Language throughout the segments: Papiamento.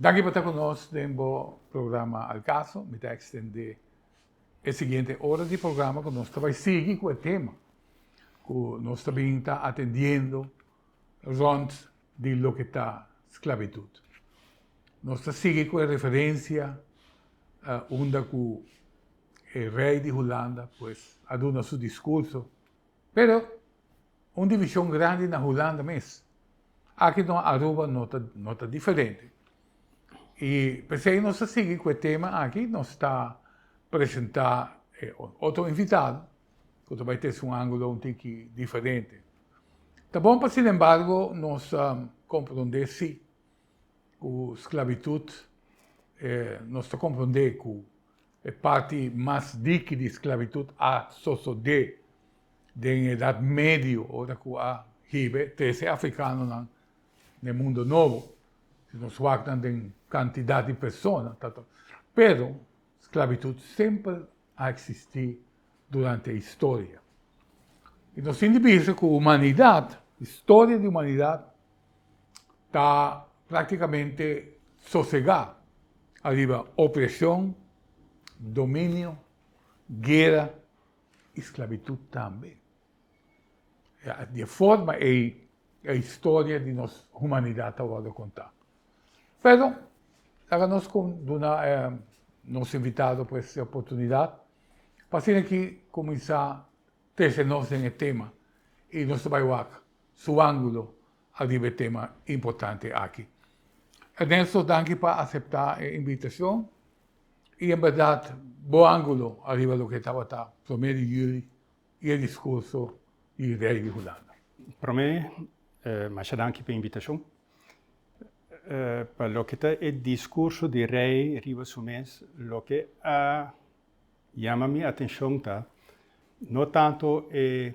Daki pa ta ku nos den bo programa Al Caso. Mi ta ekstendé e siguiente ora di programa ku nos ta bai sigui ku e tema ku nos ta bin ta atendiendo rònt di loke ta sklabitut. Nos ta sigui cu e referencia unda cu e rey di Hulanda pues a duna su discurso. Pero un division grandi na Hulanda mes. Aki no Aruba no ta diferente. Y pesey nos ta sigui cu e tema aki nos ta presenta e otro invitado cu ta bay tesa un angulo un tiki diferente. Ta bon pa sin embargo nos compronde si ku sklabitut, nos ta komprondé ku e parti mas diki di sklabitut a sosodé den e Edat Medio, ora ku a hib'e trese afrikanonan n'e Mundo Nobo, si nos wak nan den kantidat di persona, pero sklabitut semper a eksistí durante historia. I nos tin di bisa ku humanidat, historia di humanidat, ta práktikamente sosegá ariba opreshon, dominio, guera i sklabitut tambe. Di e forma ei e historia di nos humanidat ta wòrdu kontá. Pero, laga nos con duna nos invitado pues e oportunidad pa asina aki cuminsa trece nos den e tema y nos ta bay wak su angulo ariba e tema importante aki. Ernesto, danki pa acepta e invitacion y en berdad bo angulo ariba loke tabata prome di juli, i e discurso di Rey di Hulanda. Prome, masha danki pa e invitacion. Pa loke ta e discurso di Rey riba su mes, loke a yama mi atencion ta no tanto e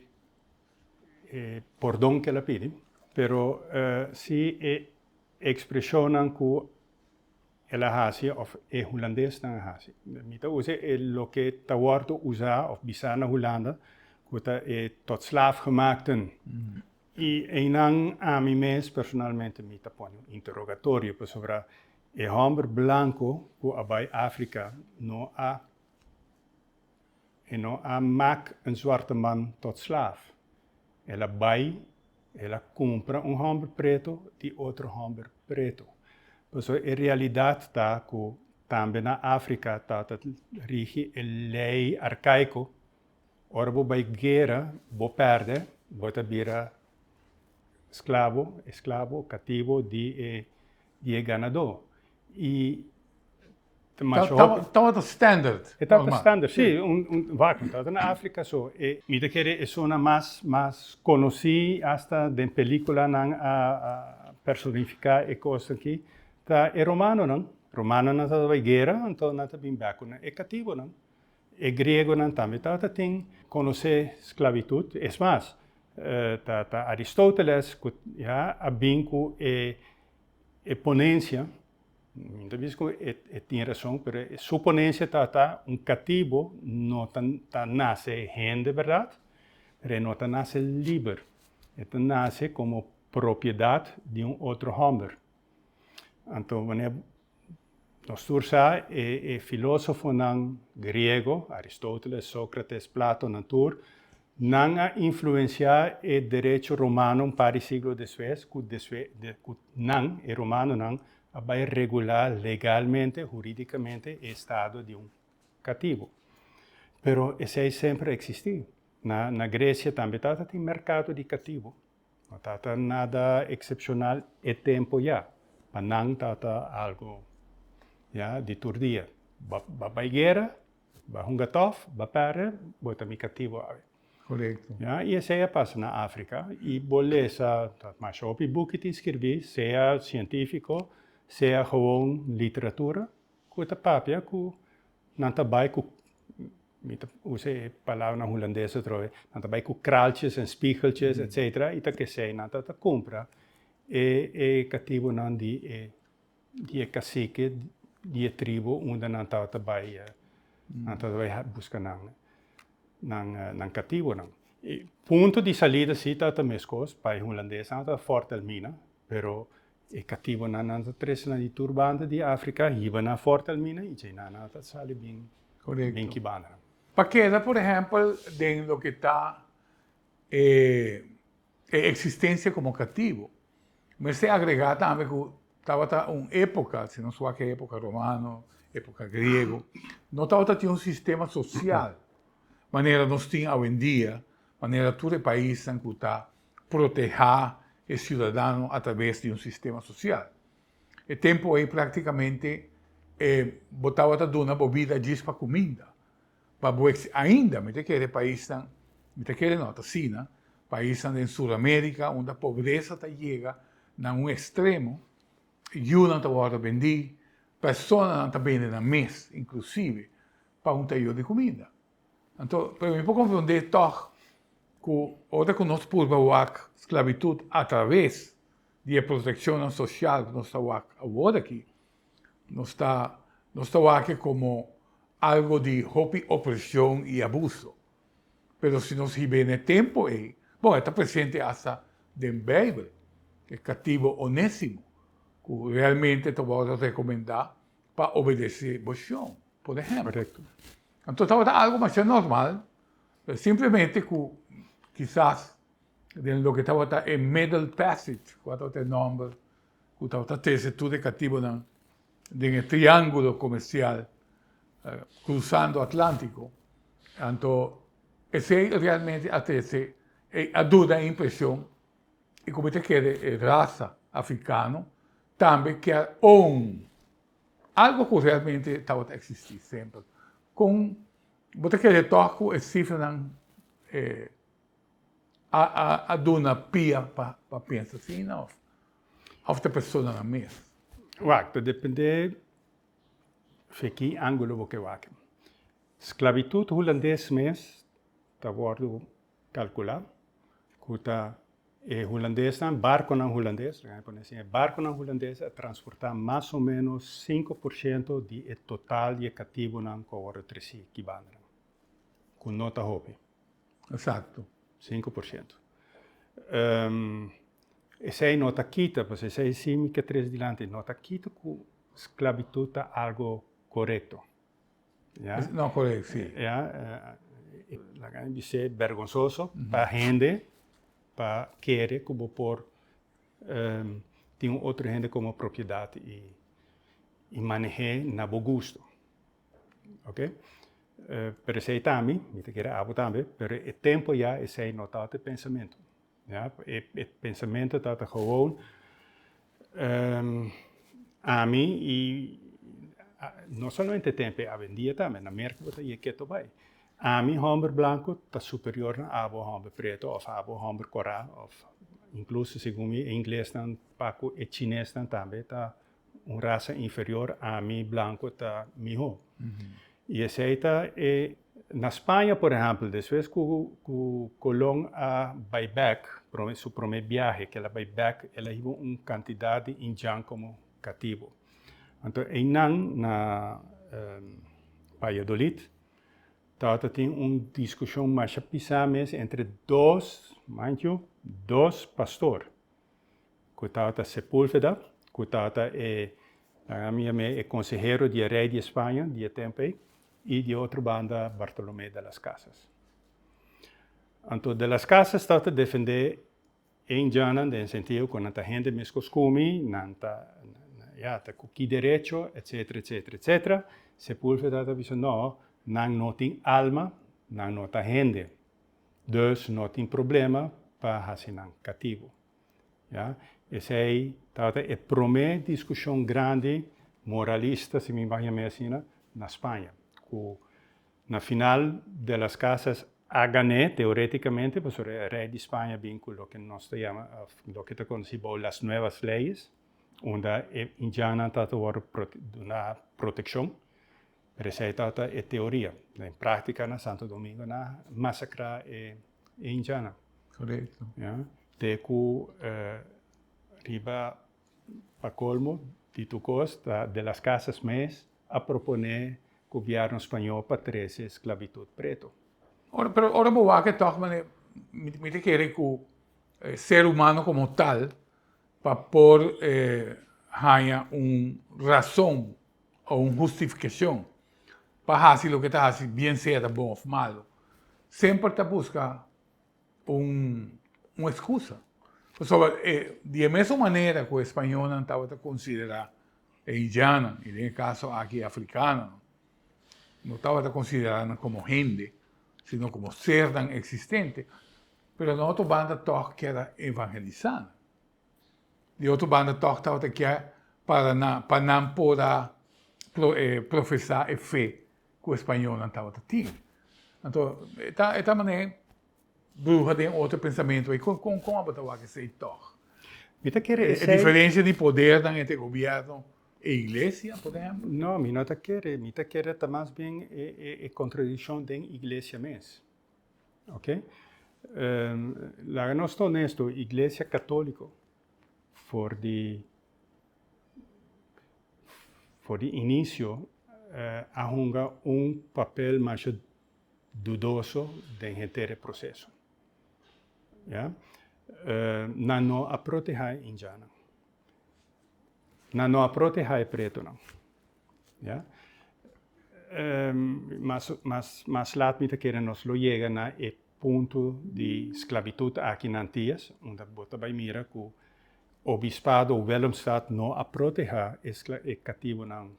pordon cu el a pidi, pero si e expresionnan cu. El a hasi of e hulandesnan a hasi. Mi ta usa e loke ta wordo usa of bisa na Hulanda ku ta e tot slaaf gemaakten. I einan ami mes personalmente mi ta pone un interogatorio pasobra e hòmber blanko ku a bai Afrika no a. E no a mak un zwarte man tot slaaf. El a bai, el a kumpra un hòmber preto di otro hòmber preto. Paso e realidat ta ku tambe na Afrika ta ta rigi e lei arkaiko, ora bo bai guera, bo pèrdè, bo ta bira sklabo, esklabo, katibo di e di e ganadó i ta masha hopi. Ta tabata standard. E tabata standard, sí. Un vacuum. Tabata na Africa so e. Mi ta kere esuna mas mas conoci hasta den pelicula nan a personifica e cos aki ta e romanonan. Romanonan ta tabata bay guera, anto nan ta bin back cu nan e cativonan. E griegonan tambe ta tin conoce sclavitud, es mas, ta Aristoteles cu ya a bin cu e ponencia, mi no ta bisa cu e tin razon, pero su ponencia ta ta un catibo no ta nace hende berdad, pero e no ta nace liber, e ta nace como propiedad di un otro homber. Anto wanneer Nos tur sa e filósofonan griego, Aristóteles, Sócrates, Plato, nan tur, nan a influensiá e derecho romano un par di siglo despues ku ku nan, e romanonan, a bai regulá legalmente, hurídikamente, e estado di un katibu. Pero esei semper a eksistí. Na Gresia tambe tabatin merkado di katibu. No tata nada eksepshonal e tempo ya. Pa nan tata algu ya di tur dia. Ba bai guera, ba hunga tòf, ba pèrdè, bo ta mi kativo awe. Korekto. Ya, i esei a pasa na Afrika. I bo lesa, ta mas hopi buki tin skirbí, sea sientífiko, sea gewoon literatura, Cu ta papia cu nan ta bay cu, mi ta usa e palabra nan Hulandes otro vez, nan ta bay cu kraaltjes en spiegeltjes etcetera y ta kesey nan ta ta cumpra e catibonan di e di e cacique di e tribu unda nan taba ta bay nan taba ta bay busca nan nan nan catibonan. Punto di salida si ta ta mescos, bay Hulandes nan ta ta fortalmina pero E katibonan nan ta tresna di tur banda di Afrika hiba na Fortalmina i djei nan a ta sali bin kibana. Pa keda por ehèmpel den loke ta e eksistensia komo katibo, mester agregá tambe ku tabata un époka, si nos wak e époka romano, époka griego, no tabata tin un sistema sosial manera nos tin awendia, manera tur e paisnan ku ta. protehá e siudadano atraves di un sistema sosial. E tempu ei práktikamente e bo tabata duna bo bida djis pa kuminda. Pa bo eks, ainda mi ta kere paisnan, mi ta kere no, t'asina, paisnan den Suramérika unda pobresa ta yega na un ekstremo, yunan ta wòrdu bendí, personanan ta bende nan mes, inklusive pa un tayó di kuminda. Anto, pero mi por konfrondé tòg ku ora ku nos purba wak sklabitut atraves di e protekshonnan sosial ku nos ta wak awor aki, nos ta nos ta wak e komo algu di hopi opreshon i abuso. Pero si nos hib'é na e tempu ei, bon, e ta presente asta den Beibel, e katibu Onésimo ku realmente ta wòrdu rekomendá pa obedesé Boshon, por ehèmpel. Anto tabata algu masha normal, pero simplemente cu kisas den loke tabata e Middle Passage, cu a tabata e nomber cu tabata trece tur e catibonan den e triangulo comercial cruzando Atlantico, anto esey realmente a trece e a duna e impresion y cu mi ta kere e raza Africano tambe kier own. Algo cu realmente tabata existi semper. Con bo ta kere tok cu e cifranan a duna pia pa pensa asina of ta personanan mes? Wak, ta depende den ki angulo bo ke wak. Sclavitud Hulandes mes ta wordo Calcula cu ta e Hulandesnan, barconan Hulandes, nan a conoce así, barconan Hulandes a transporta mas o menos sinku por shento di e total di e catibonan cu a wordo treci ki bandanan, cu no ta hopi. Exacto. Sinku por shento. Esey no ta kita, pasobra esey sin mi ke trece dilanti, no ta kita cu sclavitud ta algo corecto. No correct, si. Ya. Laga mi bis'é bergonsoso pa hende pa kere cu bo por tin un otro hende como propiedad y maneh'é na bo gusto. Ok? Pero esey ta ami, mi ta kere abo tambe, pero e tempo ya esey no tawata e pensamento. Ya, e pensamentu ta ta gewoon ami i no solamente tempu e awendia tambe na Merka bo ta yeg ketu bai. Ami hòmber blanku ta superior na abo hòmber pretu òf abo hòmber kora òf inkluso segun mi e inglesnan pak ku e chinesnan tambe ta un rasa inferior, ami blanco ta miho. Y esey ta e, na Spaña por ehempel, despues cu, cu Colon a bay bek, prome, su prome biahe, cu el a bay bek, el a hiba un cantidad di Indian como catibo. Anto eynan na Valladolid tabata tin un discusion masha pisa mes entre dos, mind you, dos pastor. ku tabata Sepúlveda, ku tabata e, nan a mira me, e konsehero di e rei di e Spaña di e tempu ei, i di e otro banda Bartolomé de las Casas. Anto de las Casas tabata defendé e indiannan den e sentido ku nan ta hende meskos ku mi, nan ta, ya, ta ku ki derecho, etsetera, etsetera, etsetera. Sepúlveda ta bisa, No, nan no tin alma, nan no ta hende. Dus no tin problema pa hasi nan katibu. Ya, esei tabata e promé diskushon grandi moralista, si mi ban yam'é asina, na Spaña, ku na final de las casas a gan'é, teorétikamente, pasobra e rei di Spaña a bin ku loke nos ta yama, òf loke ta konosí bou las nuevas leyes, unda e indiannan tabata wòrdu duná protekshon. Pero esei ta ta e teoria. Den práktika na Santo Domingo nan a masakrá e e hinchanan. Korekto. Ya. Te ku riba pa kolmo di tur kos ta De las Casas mes a proponé gobièrnu spañó pa trese sklabitut preto. Ora pero ora bo wak e tòg manera mi ta kere ku ser humano komo tal. pa por haña un rason o un hustifikashon pa hasi loke ta hasi, bien sea ta bon òf malu, semper ta buska un eskusa. Pasobra di e mesun manera ku e spañolnan tabata konsiderá e indianan, i den e kaso aki e afrikanonan, no tabata konsiderá nan komo hende, sino komo sernan eksistente. Pero den otro banda tòg kier a evangelisá nan. Di otro banda tòg tabata kier para nan, pa nan por a profesá e fe ku e spañolnan tabata tin. Anto, e ta, e ta manera e bruha den otro pensamentu ei. Kon, kon, kon abo ta wak esei tòg? Mi ta kere esei. E diferensia di podernan entre gobièrnu e iglesia, por ehèmpel? No, mi no ta kere. Mi ta kere ta mas bien e, e, e kontradikshon den iglesia mes. Oke laga nos ta onesto, iglesia katoliko for di for di inisio a hunga un papel masha dudoso den henter e proseso. Ya nan no a protehá e hinchá nan. Nan no a protehá e pretonan. Ya. Mas, mas, mas lat mi ta kere nos lo yega na e punto di sclavitut aki na Antillas, unda bo ta bai mira cu obispado o Willemstad no a protehá e catibonan.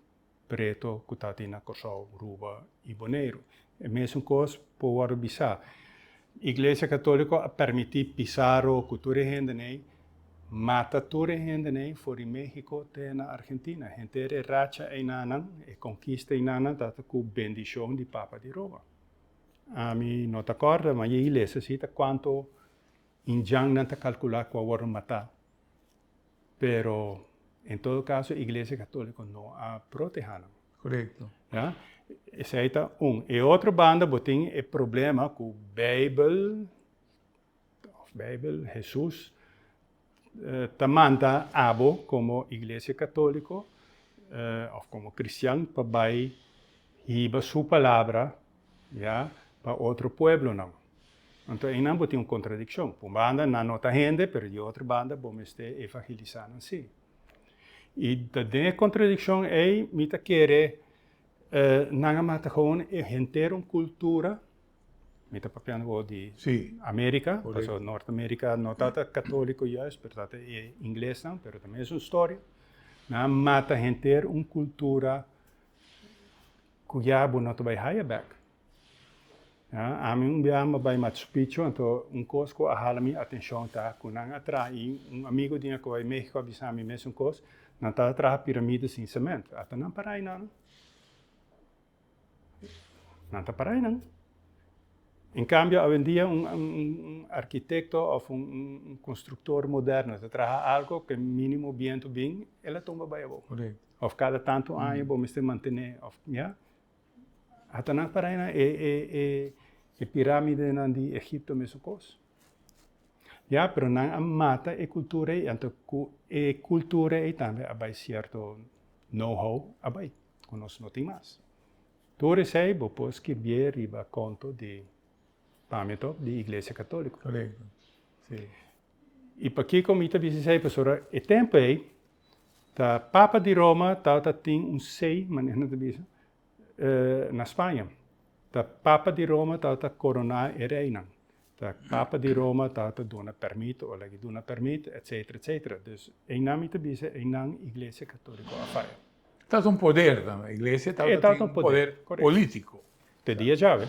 preto ku ta tin na Kòrsou, Ruba i Boneiru. E mesun kos por wòrdu bisá. Iglesia Katóliko a permití Pizarro ku tur e hendenei mata tur e hendenei for di Méhiko te na Argentina. Henter e racha einanan, e konkista einanan ta ku bendishon di Papa di Roma. Ami no ta kòrda, ma e ilesia sí ta kuantu injannan ta kalkulá ku a wòrdu matá. Pero en todo caso e Iglesia Católico no a proteha nan. Correcto. Ya? Esey ta un. E otro banda bo tin e problema cu Bijbel, of Bijbel, Jesus, ta manda abo como Iglesia Católico of como cristian pa bay hiba su palabra Ya, pa otro pueblonan. Anto einan bo tin un kontradikshon. P'un banda nan no ta hende, pero di otro banda bo mester evangelisá nan sí. I ta den e kontradikshon ei mi ta kere nan a mata gewoon henter un kultura, mi ta papiando awor di Amerika, pasobra Nort Amerika no ta ta katóliko juist, pero ta ta e inglesnan, pero ta mesun storia, nan a mata henter un kultura. Kuyá bo no ta bai haya bek. Ami un biaha mi a bai Machu Picchu, anto un kos ku a hala mi atenshon ta ku nan a traha, i un amigu di nan ku a bai México a bisa mi mesun kos, nan ta traha piramida sin semento. Ato nan para einan? Nan ta para einan. En kambio, awendia un arkitekto òf un konstruktor moderno ta traha algu ku mínimo bientu bin, el a tumba bai abo. Of cada tanto año bo mester mantené of ya. Hasta nan para nan e piramidenan di Egipto mesun cos. Ya pero nan a mata e cultura ey anto cu e cultura ey tambe a bay cierto know how a bay cu nos no tin mas. Tur esey bo por skirbié riba conto di pamia di Iglesia Catolico. I pakiko mi ta bisa esei? Pasobra e tempu ei ta Papa di Roma tabata tin un sei, manera nan ta bisa, na Spaña. Ta Papa di Roma tabata koroná e reinan. Ta Papa di Roma tabata duna permito o laiga duna permit, etsetera, etsetera. Dus einan mi ta bisa einan Iglesia Katóliko a faya. Tabata un poder tambe. Iglesia tabata tin un poder polítiko. Te dia djawe,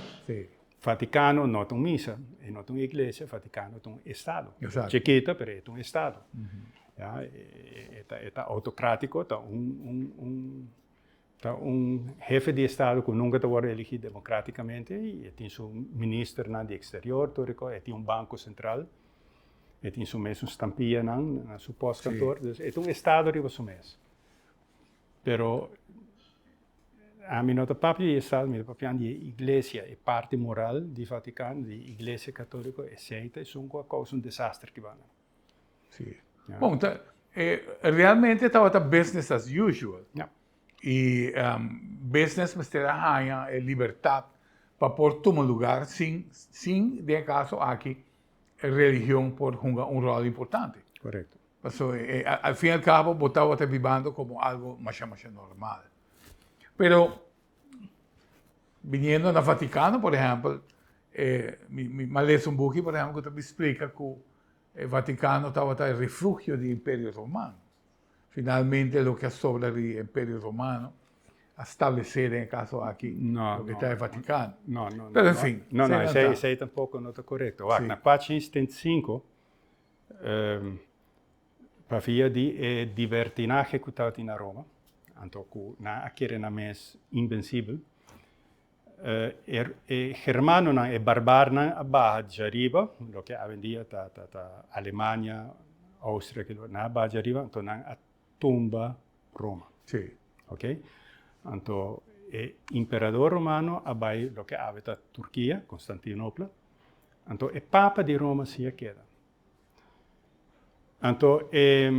Vaticano no ta un misa, e no ta un iglesia, Vaticano ta un estado. Chikita, pero e ta un estado. Ya, e ta autocratico, ta un hefe di estado cu nunca ta worde eligi democraticamente, y e tin su ministernan di exterior, tur e cos, e tin un banco central, e tin su mes un stampianan na su postkantoor, dus e ta un estado riba su mes. Pero Ami no ta papia di e sal, mi ta papian di e iglesia, e parti moral di Vatican, di e iglesia catolico, esey ta esun cu a causa un desastre cubano. Si. Bon, ta, e, realmente tabata business as usual. Ja. Y business mester a haña e libertad pa por tuma lugar sin, sin den e caso aki religion por hunga un rol importante. Correcto. Paso e, al fin al cabo bo tawata bibando como algo masha masha normal. Pero biniendo na Vaticano por ejemplo, eh, mi, mi, mi a lesa un buki por ejemplo cu ta explica cu e Vaticano tawata e refugio di Imperio Romano. Finalmente loke a sobra di Imperio Romano a stablece den e caso aki No, loke no. ta e Vaticano. No, no, no. Pero en no. fin, No, no, esey, seilanza. esey tampoco no ta correcto. Wak, Sí. na pagina 75, pa via di e dibertinahe ku tabatin na Roma, anto ku nan a kere nan mes inbensibel, e germanonan, e barbarnan a baha djariba, loke awendia ta Alemania, Austria, kilo, nan a baha djariba, anto nan a tumba Roma. Sí. Ok? Anto e imperador romano a bai loke awe ta Turkia, Konstantinopla, Anto e papa di Roma siña keda. Anto e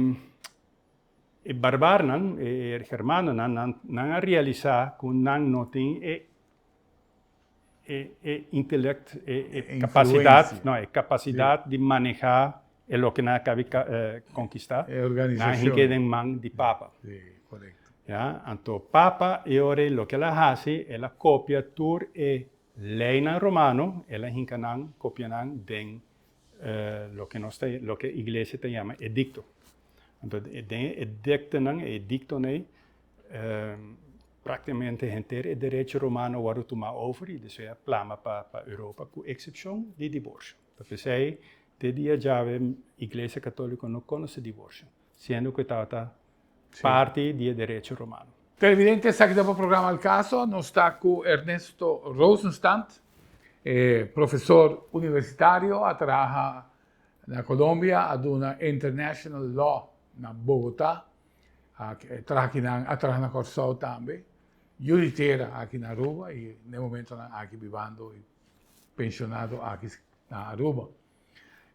e barbarnan, e germanonan, nan, nan a realisa ku nan no tin e e e intelekt, e e kapasidat, no, e kapasidat di manehá e loke nan a kabe konkistá, nan a hinke den man di papa. Ya, anto papa e ora loke el a hasi, el a kopia tur e. Leinan romano el a hinka nan kopia nan den loke nos ta loke iglesia ta yama edikto. Anto den e ediktonan, e ediktonan ei, praktikamente henter e derecho romano a wòrdu tumá over i despues a plama pa pa Europa ku eksepshon di divorsio. Ta p'esei te dia djawe iglesia katòliko no konosé divorsio. Siendo cu e tabata parti di e derecho romano. Televidente, esaki ta pa programa El Caso. Nos ta cu Ernesto Rosenstand, e profesor universitario, a traha na Colombia, a duna International Law na Bogota, a traha aki nan, a traha na Corsou tambe, yuritera aki na Aruba y n'e momento nan aki bibando y pensionado aki na Aruba.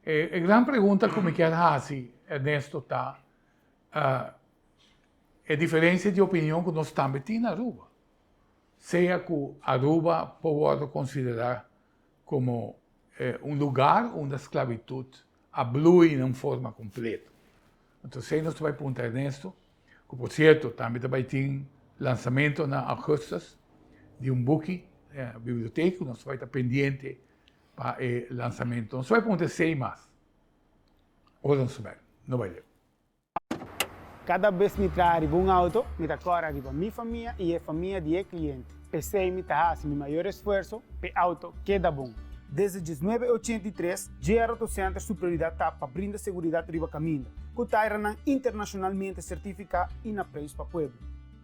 E, e gran pregunta ku mi kier hasi, Ernesto, ta uh, e diferensia di opinion ku nos tambe tin na Aruba. Sea ku Aruba por worde konsiderá komo eh, un lugar unda sklavitud a blui na un forma kompleto. Entonces, sei nos ta bai punta Ernesto, ku por sierto tambe ta bai tin lansamento na augustus di un buki, eh, biblioteki, nos ta bai ta pendiente pa e lansamentu. Anso e punto esei mas. Ora nos sumer no bai leu. Kada bes mi traha riba un auto, mi ta kòrda riba mi famia i e famia di e kliente. P'esei mi ta hasi mi mayor esfuerso p'e auto keda bon. Desde diesnuebe ochenta i tres, JR Auto Center su prioridat ta pa brinda seguridat riba kaminda, ku tairanan internashonalmente sertifiká i na preis pa pueblo.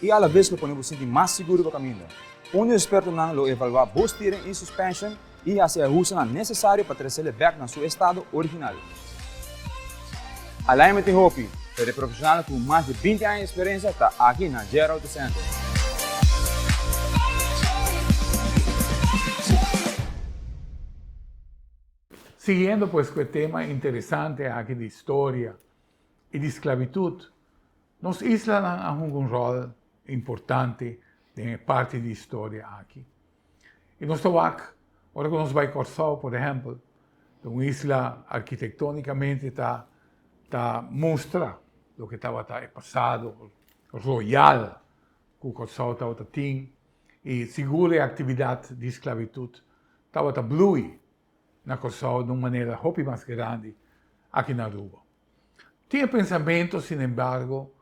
I alabes lo pone bo sinti mas siguro pa kaminda. Un di espertonan lo evaluá bo stiering i suspension i hasi e ahustonan nesesario pa tresele bèk na su estado original. Alignment tin hopi, pero e profeshonalnan ku mas di binti aña eksperensia ta aki na JR Auto Center. Siguiendo pues ku e tema interesante aki di historia i di sklabitut, Nos islanan a hunga un ròl importante den e parti di historia aki. I nos ta wak ora ku nos bai Kòrsou, por ehèmpel, ta un isla arkitektónikamente ta ta mustra loke tabata e pasado royal ku Kòrsou tabata tin i sigur e aktividat di sklavitut tabata blui na Kòrsou na un manera hopi mas grandi aki na Aruba. Tin e pensamentu, sin embargo,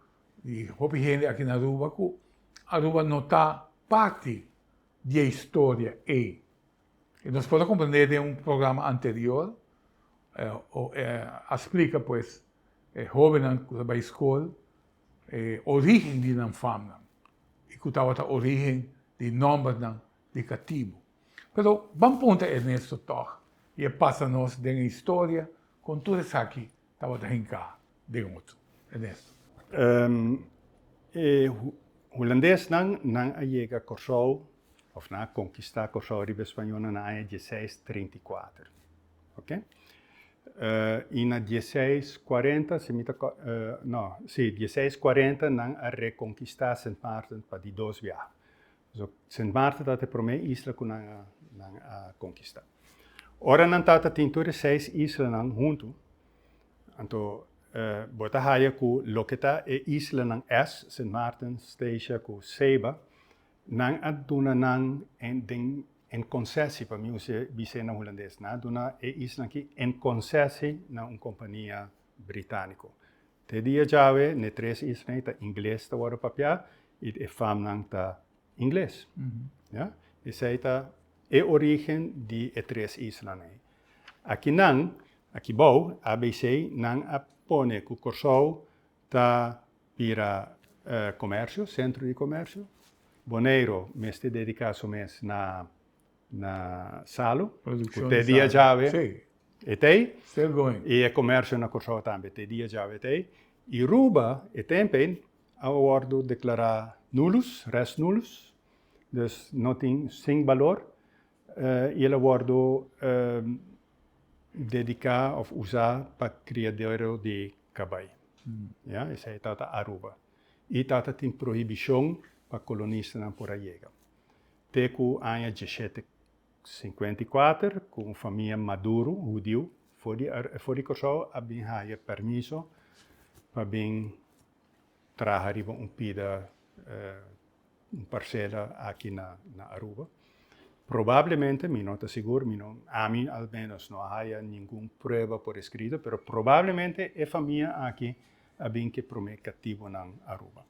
di hopi hende aki na Aruba ku Aruba no ta parti di e historia ei. I nos por a komprende den un programa anterior, a splika pues e hobennan ku ta bai skol e origen di nan famnan i ku tabata origen di nòmbernan negativo. Pero ban punta Ernesto tog y e pasa nos den e historia con tur esaki tabata hinca den otro. Ernesto. E Hulandesnan nan a yega Corsou of nan a conquista Corsou riba e Spañolnan na aña dieseis treinta y kuater, ok. Y na dieseis kuarenta si mi ta no si dieseis kuarenta nan a reconquista Sint Maarten pa di dos biaha. So, Sint Maarten tabata e promé isla ku nan a, nan a konkistá. Ora nan tabata tin tur e seis islanan huntu, anto bo ta haya ku loke ta e islanan es, Sint Maarten, Statia ku Saba, nan a duna nan en, den en konsesi, pa mi use bis'é na hulandes, nan a duna e islanan akí en konsesi na un kompania britániko. Te dia djawe n'e tres islanan ta ingles ta wòrdu papiá i e famnan ta ingles. Ya. Esei ta e orígen di e tres islanan ei. Aki nan, aki bou, ABC, nan a pone ku Kòrsou ta bira komèrsio, sentro di komèrsio. Boneiru mester dediká su mes na na Salu, ku te dia djawe e ta ei, i e komersio na Kòrsou tambe te dia djawe e ta ei. I Ruba e tempu ei a wòrdu deklará nulus, res nulus, dus no tin, sin balor, i el a wòrdu dediká òf usá pa kriadero di kabai. Ya, esei ta Aruba. I ta tin prohibishon pa kolonistanan por a yega. Te ku aña djeshete sinkuenta i kuater ku un famia maduru hudiu for di for di Kòrsou a bin haya permiso pa bin traha riba un pida un parsela aki na na Aruba. Probablemente, mi no ta sigur, mi no ami al menos no a haya ningun prueba por eskrito, pero probablemente e famia aki a bin ke promé katibunan Aruba.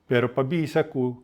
Pero pa bisa ku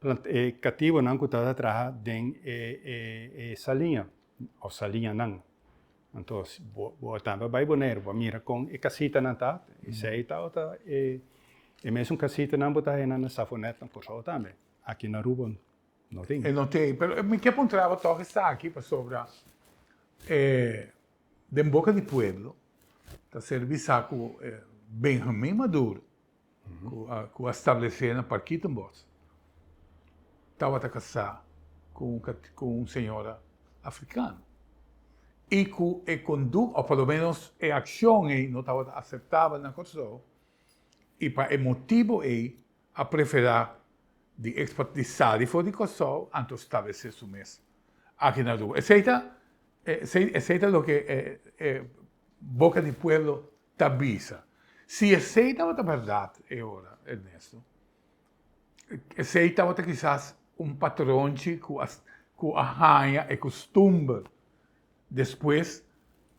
Plant e kativonan ku tabata traha den e e saliña òf saliñanan. Anto si bo bo a tambe a bai Boneiru, bo a mira kon e kasitanan ta, esei ta ota e e mesun kasitanan bo ta haya nan na Safonèt, na Kòrsou tambe. Aki na Aruba no tin. E no tin. Pero mi ke puntra bo tòg esaki pasobra e den boka di pueblo ta ser bisa ku e Benjamin Maduro ku a stablesé na Parkietenbosch tabata kasá ku un señora afrikano i ku e kondukta, òf pòloménos e akshon ei no tabata aseptabel na Kòrsou i pa e motibu ei a preferá di ekspat di sali for di Kòrsou anto stablesé su mes aki na Aruba. Esei ta loke e boka di pueblo ta bisa si esei tabata bèrdat e ora, Ernesto. Esei tabata kisas un patronchi ku a haña e kustumber despues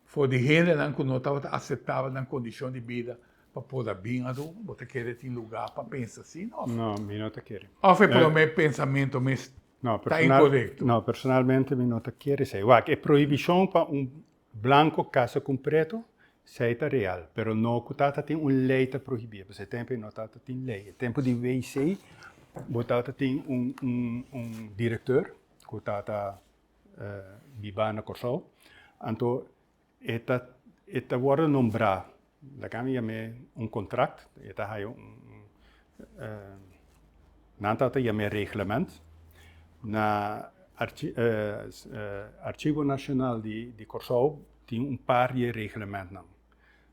for di hendenan ku no tabata aseptabel nan kondishon di bida pa por a bin atu. Bo ta kere tin lugá pa pensa asin òf? No, mi no ta kere. Òf e promé pensamentu mes ta inkorekto? No, personalmente mi no ta kere esei. Wak, e prohibishon pa un Blanco casa cu un preto, esey ta real, pero no cu ta ta tin un ley ta prohibie, pasobra e tempo ey no ta ta tin ley. E tempo di WC bo ta ta tin un director cu ta ta biba na Corsou, anto e ta wordo nombra Lagan a yam'é un kontrakt, e ta haya un, nan tabata yam'é reglement, na Arshivo Nashonal di Kòrsou tin un par di e reglementnan.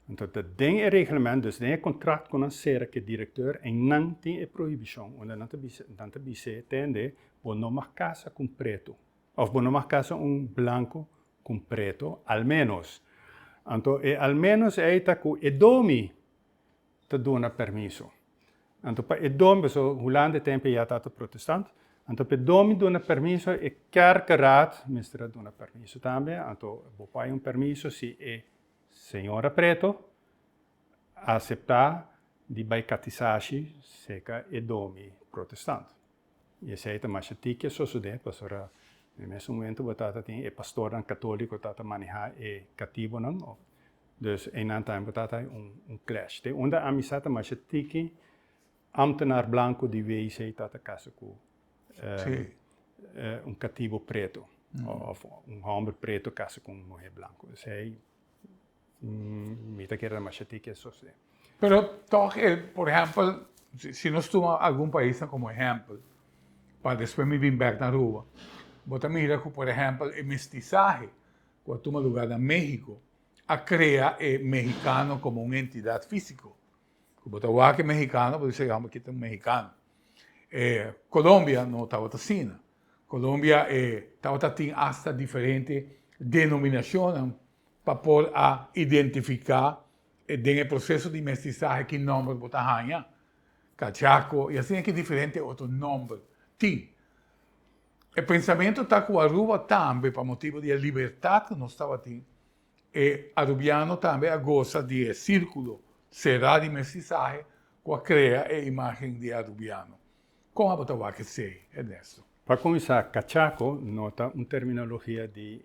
Anto ta den e reglement, dus den e kontrakt ku nan sera ku e direktor, einan tin e prohibishon unda nan ta bisa, nan ta bis'é tende, bo no mag kasa ku un pretu. Of bo no mag casa un blanco cu un preto al menos. Anto e al menos ey ta cu e domi ta duna permiso. Anto pa e domi, paso Hulanda e tempo ya tata protestant, anto pa e domi duna permiso e kerkeraad mester a duna permiso tambe. Anto bo por hay un permiso si e señora preto a acepta di bay catisashi seca e domi protestant. I esei ta masha tiki sosodé, pasobra den mes un momentu bo ta ta tin e pastornan katóliko ta ta manehá e katibonan. Dus einan tambe bo ta ta hai un un klèsh. Den unda amisá ta masha tiki ámtenar blanku di wei sei ta ta kasa ku un katibo pretu òf un hòmber pretu kasa ku un muhé blanku. Esei. Mi ta kere namasha tiki esos e. Pero tòg e, por ehèmpel, si nos tuma algun paisnan komo ehèmpel, pa despues mi bin bèk na Aruba, bo ta mira ku por ehèmpel e mestisahe ku a tuma lugá na Méhiko a krea e mehikano komo un entidat físiko. Ku bo ta wak e mehikano, bo di amba kita un mehikano. E Colombia no tabata asina. Colombia e tabata tin asta diferente denominashonnan pa por a identifiká den e proseso di mestisahe ki nòmber bo ta haña. Cachaco i asina ki diferente otro nòmber tin. E pensamentu ta ku Aruba tambe pa motibu di e libertat ku nos tabatin, e arubiano tambe a gosa di e sírkulo será di mestisahe ku a krea e imágen di arubiano. Kon abo ta wak esei, Ernesto? Pa kuminsá, cachaco no ta un terminologia di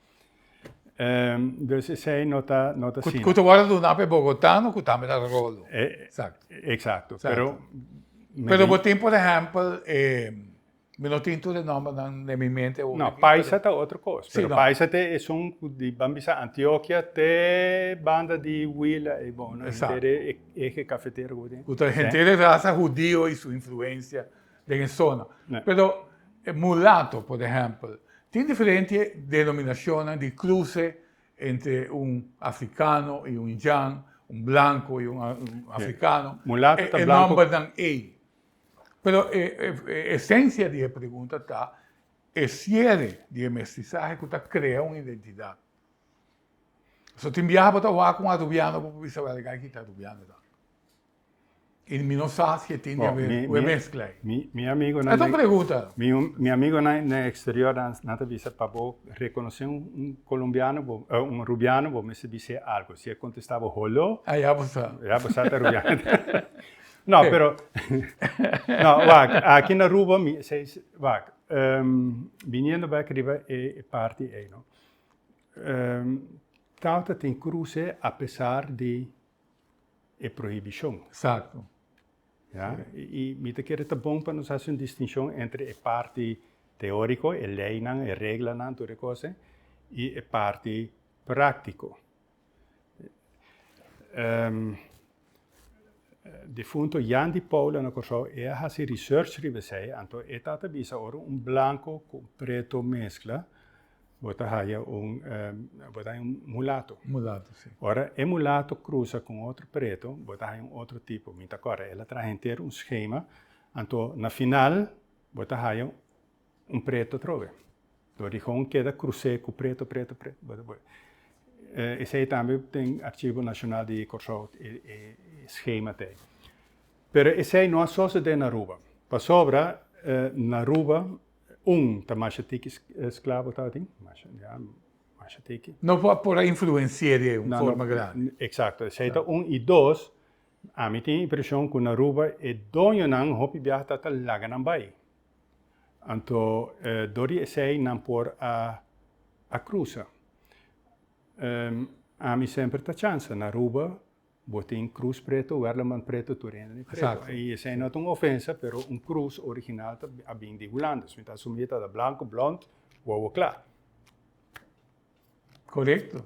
Ehm, dus esei no ta, no ta sina. Ku ta wòrdu duna pa e bogotano ku tambe ta rolo. E, eksakto. Eksakto. Pero, mi. Pero bo tin por ehèmpel e, mi no tin tur e nòmbernan den mi mente awor aki. No, paisa ta otro kos. Sí, no. Pero paisa te esun ku di, ban bisa Antiokia te banda di Huila ei bo, no? Eksakto. Henter e ehe kafetero ku bo tin. Ku ta henter e rasa hudio i su influensia. Den e sona. Pero e mulato, por ehempel, tin diferente denominacionnan di cruce entre un africano y un indian, un blanco y un africano, e nombernan ey. Pero e esencia di e pregunta ta e ciere di e mestizahe cu ta crea un identidad. So tin biaha bo ta wak un arubiano bo por bisa, Well, e guy aki ta arubiano tambe. Y mi no sa si e tin di haber cu e mezcla ey. Mi amigonan. Esaki un pregunta. Mi amigonan den exterior dan nan ta bisa pa bo reconoce un colombiano bo, un rubiano bo mester bis'é algo. Si e contesta bo holo. Ah ya bo sa. Ya bo sa ta rubiano. No pero no wak aki na Aruba mi seis wak viniendo bek riba e parti ey no. Tawata tin cruce apesar di e prohibishon. Exacto. Ya, y mi ta kere ta bon pa nos haci un distinshon entre e parti teorico, e leinan, e reglanan, tur e cos ei, y e parti practico. difunto Jan di Paula na Corsou, e a haci research riba esei, anto e tata bisa ora un blanco cu un preto mezcla, Bo ta haya un, bo ta haya un mulato. Mulato, si. Ora e mulato crusa con otro preto, bo ta haya un otro tipo. Mi ta corda, el a traha henter un schema, anto na final bo ta haya un preto atrobe. Lo rigon keda crus'é cu preto, preto, preto, bo ta boe. Esey tambe den Archivo Nacional di Corsou e schema t'ey. Pero esey no a sosode na Aruba, pasobra na Aruba Un ta masha tiki sklabo tabatin, masha, ya, masha tiki. No por a por a influensi'é di un forma grandi. Eksakto, esei ta un. I dos, ami tin impreshon ku na Aruba e doñonan hopi biaha ta ta laga nan bai. Anto dor di esei nan por a a krusa. Ami semper ta chansa na Aruba. Bo tin cruz preto, werleman preto tur hende tin preto. Exacto. Y esey no ta un ofensa, pero un cruz original ta a bin di Hulanda. So mi ta asumi ta da blanco, blond, wowo cla. Correcto.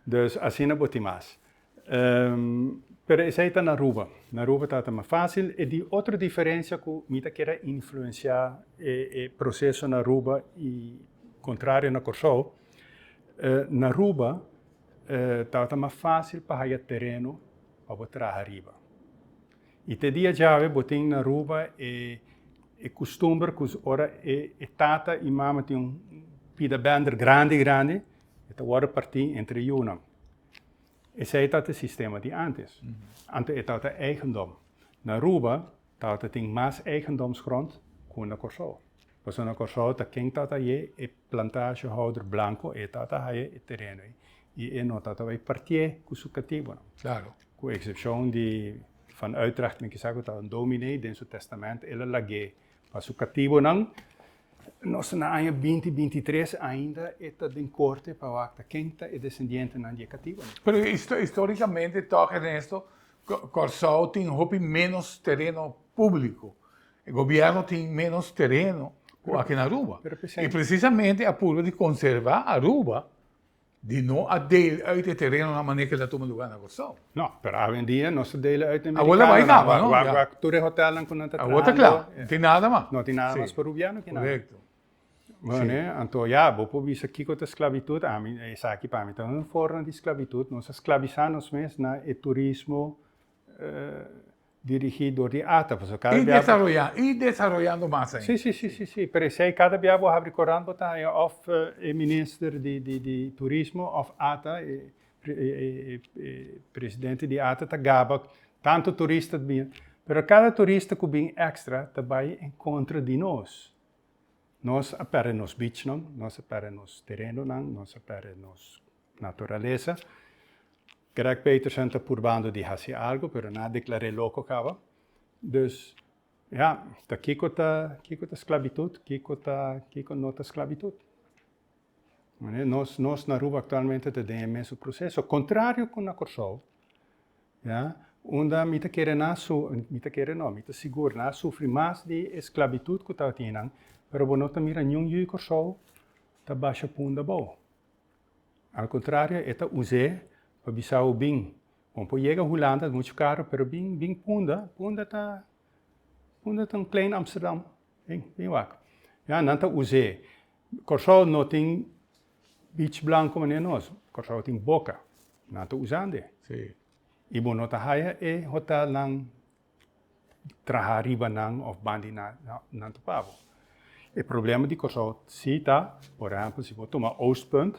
Dus asina bo tin mas. Ehm, pero esey ta na Aruba. Na Aruba ta ta mas facil. E di otro diferencia cu mi ta kere influencia e e proceso na Aruba y contrario na Corsou, eh, na Aruba E tabata mas fásil pa haya tereno pa bo traha riba. I te dia djawe bo tin na Aruba e e kustumber ku ora e e tata i mama tin un pida bender grandi grandi e ta wòrdu partí entre yunan. Esei tabata e sistema di ántes. Ántes e tabata eigendom. Na Aruba tabata tin mas eigendomsgrond ku na Kòrsou. Persona Kòrsou ta ken ta ta haye e plantasjehouder blanko, e ta ta haye e tereno ei, i e no ta ta bai partié ku su katibonan. Klaro. Ku eksepshon di Van Uytrecht, men kisa ku ta un dominee, den su tèstamènt el a lag'é pa su katibonan. Nos ta na aña binti binti i tres, ainda e ta den korte pa wakta ken ta e desendientenan di e katibonan. Pero histórikamente tòg Ernesto, Kòrsou tin hopi ménos tereno públiko. E gobierno tin menos tereno cu aki na Aruba. Y precisamente a purba di conserva Aruba di no a deel uit e tereno na manera cu ta tuma lugar na Corsou. No, pero awe en dia nos a deele uit na Americanonan. Tur e hotelnan cu nan ta trahando. Awo ta cla. No tin nada mas. No tin nada mas pa Rubiano aki na. Correcto. Bueno, anto ya, bo por bisa kico ta sclavitud. Ami, esaki pa mi ta un forma di sclavitud. Nos a sclavisa nos mes na e turismo. Dirigí dor di ata, pasobra kada bia. I desaroyá, i desaroyando mas ainda. Sí, sí, sí, sí, pero esei kada bia bo habri korant bo ta haya òf e minister di turismo òf ata, e presidente di ata ta gaba tantu turista ta bini. Pero kada turista ku bin èkstra ta bai en kontra di nos. Nos a pèrdè nos bichnan, nos a pèrdè nos terenonan, nos a pèrdè nos naturalesa. Greg Peterson ta purbando di hasi algu, pero nan a deklar'é loko kaba. Dus, ya, ta kiko ta kiko ta sklabitut, kiko ta kiko no ta sklabitut? Manera nos nos na Aruba aktualmente ta den e mesun proseso, kontrario ku na Kòrsou, ya, unda mi ta kere nan su, mi ta kere no, mi ta sigur nan a sufri mas di e sklabitut ku tabatinan, pero bo no ta mira niun yu di Kòrsou ta basha punda bou. Al kontrario, e ta us'é pa bisa bo bin. Bo por yega Hulanda, es muchu karu, pero bin bin Punda, Punda ta, Punda ta un klein Amsterdam, bin bin wak. Ya, nan ta us'é. Kòrsou no tin bich blanku manera nos, Kòrsou tin boka, nan ta usand'é. I bo no ta haya e hotelnan. traha riba nan of ban di nan ta pa bo. E problema di Kòrsou si ta, por ehèmpel, si bo tuma Oostpunt,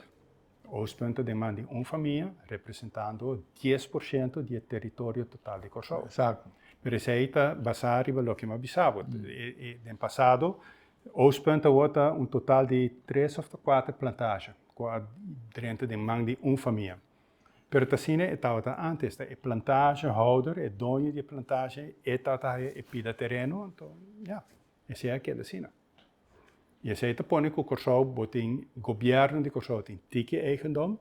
Oostpunt ta den man di un famia representando dies por shento di e teritorio total di Kòrsou. Exacto. Pero esei ta basá riba loke mi a bisa bo. Den pasado, Oostpunt awor ta un total di tres òf ta kuater plantasha ku a drenta den man di un famia. Pero ta asina e tabata antes, ta e plantasjehouder, e doño di e plantasje, e ta ta haja e pida tereno, anto ya, esei a keda asina. I esei ta pone ku Kòrsou bo tin, gobierno di Kòrsou tin tiki eigendom,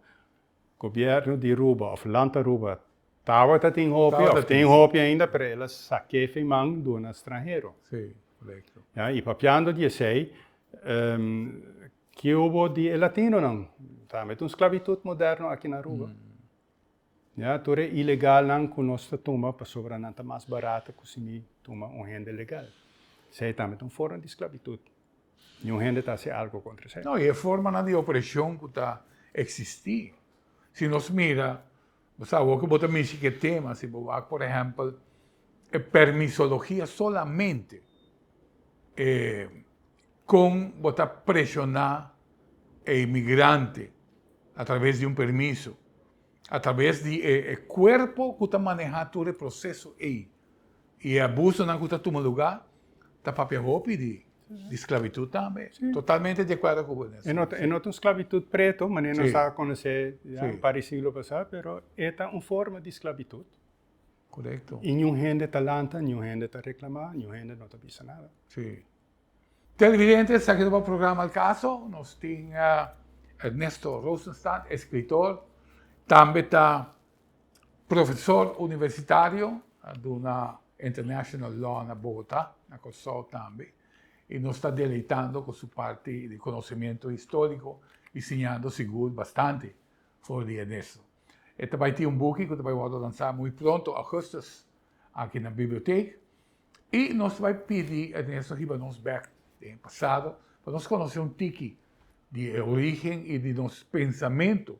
gobierno di Aruba òf land Aruba tabata tin hopi òf tin hopi ainda, pero el a sak'é fin man duna stranhero. Si, korekto. Ya, i papiando di esei, Ki hubo di e latinonan? Tambe ta un sclavitud moderno aki na Aruba. Ya, tur e ilegalnan cu nos ta tuma pasobra nan ta mas barato cu si mi tuma un hende legal. Esey tambe ta un forma di sclavitud. Niun hende ta haci algo contra esey. No, y e formanan di opresion cu ta existi. Si nos mira, Bo sa awor ku bo ta mishi ku e tema, si bo wak por ehèmpel e permisologia solamente e kon bo ta preshoná e inmigrante atraves di un permiso, atraves di e kuerpo ku ta manehá tur e proseso ei i e abusonan ku ta tuma lugá, ta papia hopi di di sclavitud tambe. Sí. Totalmente de acuerdo con vos. En otro, en otro esclavitud preto, maneer nos a conocer ya, sí. para el siglo pasado, pero esta un forma de esclavitud. Correcto. Y ni un gente está lanta, ni un gente está reclamando, ni un gente no está bisa nada. Sí. Televidente, está aquí el programa El Caso. Nos tiene Ernesto Rosenstadt, escritor. También está Profesor universitario, a duna International Law na Bogotá, na Kòrsou tambe, i nos ta deleitando ku su parti di konosementu histórico i siñando sigur bastante for di Ernesto. E ta bai tin un buki ku ta bai wòrdu lansá muy pronto, Augustus, aki na bibliotek, i nos ta bai pidi Ernesto hiba nos bèk den e pasado pa nos konosé un tiki di e orígen i di nos pensamentu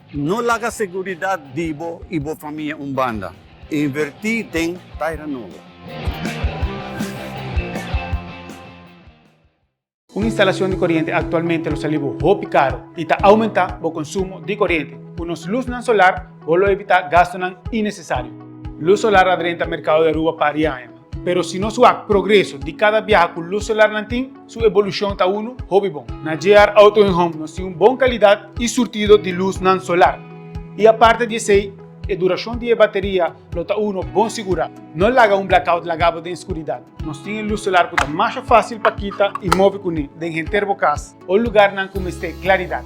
No laga seguridat di bo i bo famia un banda. Invertí den Taira Nobo. Un instalashon di koriente aktualmente lo sali bo hopi karu i ta oumentá bo konsumo di koriente. Ku nos lusnan solar bo lo evitá gastunan inesesario. Lus solar a drenta merkado di Aruba pari aña. Pero si nos wak progreso di kada biaha ku lus solar nan tin, su ebolushon ta unu hopi bon. Na JR Auto en Home nos tin un bon kalidat i surtido di lusnan solar. I aparte di esei, e durashon di e bateria lo ta unu bon sigurá. No laga un blackout laga bo den skuridat. Nos tin e lus solar ku ta masha fásil pa kita i move kuné den henter bo kas o lugarnan ku mester klaridat.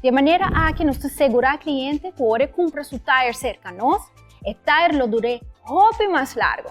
Dje manera aki nos ta segurá kliente ku ora e kumpra su tayer serka nos, e tayer lo dur'é hopi mas largu.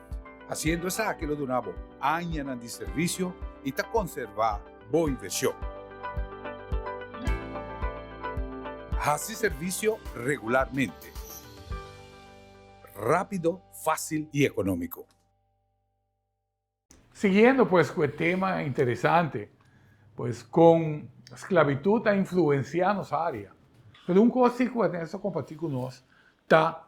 Haciendo esaki lo duna bo añanan di servicio y ta conserva bo inversion. Haci servicio regularmente, rapido, facil y economico. Siguiendo pues cu e tema interesante, pues con sclavitud a influencia nos area. Pero un cos si cu Ernesto comparti cu nos ta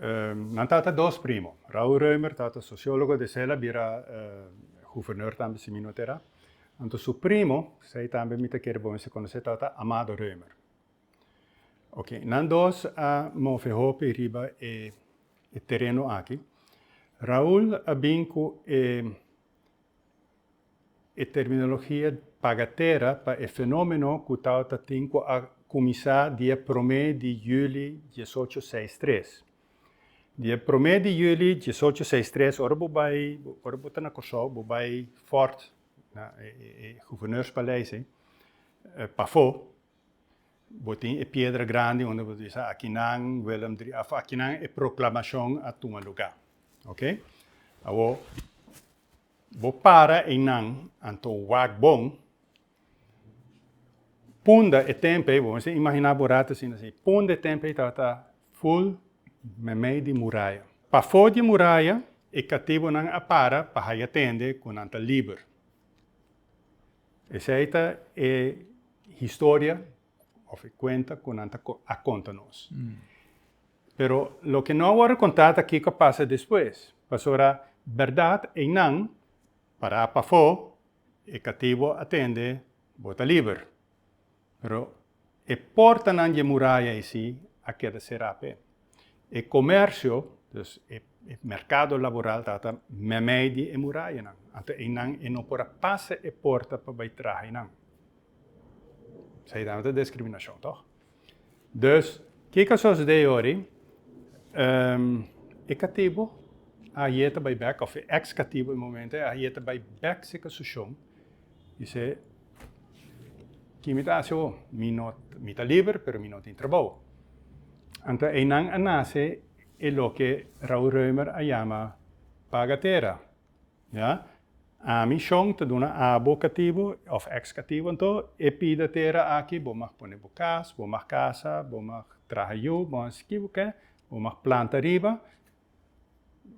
Nan tata dos primo. Raul Reumer tata sociologo de Sela bira guvernor tambe si mi no tera. Anto su primo, sei tambe mi ta kere bon mester conoce tata Amado Reumer. Ok, nan dos a move hopi riba e tereno aki. Raul a bin cu e. E terminologia bagatera pa e fenomeno cu tabata tin cu a cuminsa di e prome di juli diesocho seis tres. Di e prome di juli diesocho seis tres ora bo bay, ora bo ta na Corsou, bo bay Fort na e Gouverneurspaleis ey, pafo bo tin e piedra grandi unda bo ta bisa akinan Willem drie of akinan e proclamacion a tuma lugar. Ok. Awor. Bo para einan, anto wak bon. Punda e tempei, bo mester imaginá bo rata asina si, punda e tempei tabata ful meimei di muraya. Pafó di muraya e katibonan a para pa haya tende ku nan ta liber. Esei ta e historia of e cuenta cu nan ta a conta nos. Pero loke no a worde conta ta kico a pasa despues. Pasobra berdad eynan para pafo, e cativo a tende bo ta liber. Pero e portanan dje muraya eysi a keda cera pe. E komersio, dus e merkado laboral ta ata mèmei di e murayanan. Anto einan e no por a pasa e porta pa bai traha einan. Seinan no ta diskriminashon, tòg? Dus, ke ka sosodé ei ora ei? E katibu ayé ta bai bèk, òf e èks katibu e momento ei ayé ta bai bèk si kasushon, I se, Ki mi ta hasi awor? Mi no, mi ta liber, pero mi no tin trabou. Anto einan a nase e loke Raul Reumer a yama pagatera. Ya? Ami, Shon, ta duna abo katibu, òf èkskatibu anto, e pidatera aki, bo mag pone bo kas, bo mag kasa, bo mag traha yu, bo hasi ki bo ke, bo mag planta riba,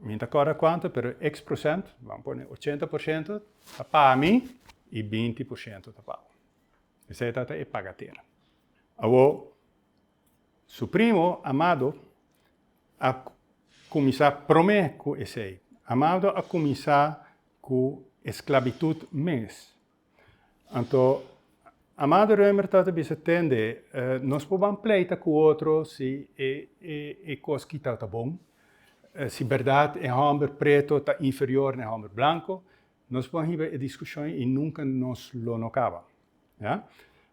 Mi no ta acorda cuanto, pero X procent, vamos pone ochenta por ciento, ta pa mi y binti por ciento ta pa bo. Esey ta ta e pagatera. Awor, su primo, Amado, a cuminsa prome cu esey. Amado a cuminsa cu esclabitud mes. Anto, Amado Römer tabata bisa tende, nos por ban pleita ku otro si e kos ki tabata bon, si bèrdat e hòmber preto ta inferior na e hòmber blanko, nos por hiba e diskushon i nunka nos lo no kaba. Ya?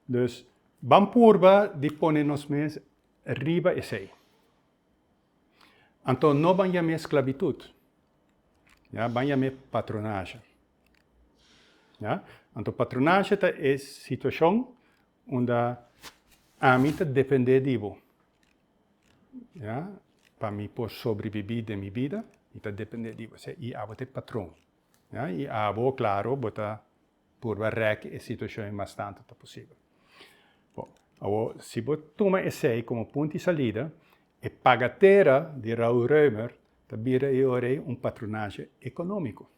Dus, ban purba di pone nos mes riba esei. Anto, no ban yam'é sklabitut, ya, ban yam'é patronasha. Ya. Anto patronashe ta e situashon unda ami ta dependé di bo, ya, pa mi por sobribibí den mi bida, mi ta dependé di bo. Esei i abo ta e patron. Ya, i abo, klaru, bo ta purba rèk e situashon ei mas tantu ta posibel. Bo, awor, si bo tuma esei komo punt di salida, e pagatera di Raúl Roemer ta bira e ora ei un patronashe ekonómiko.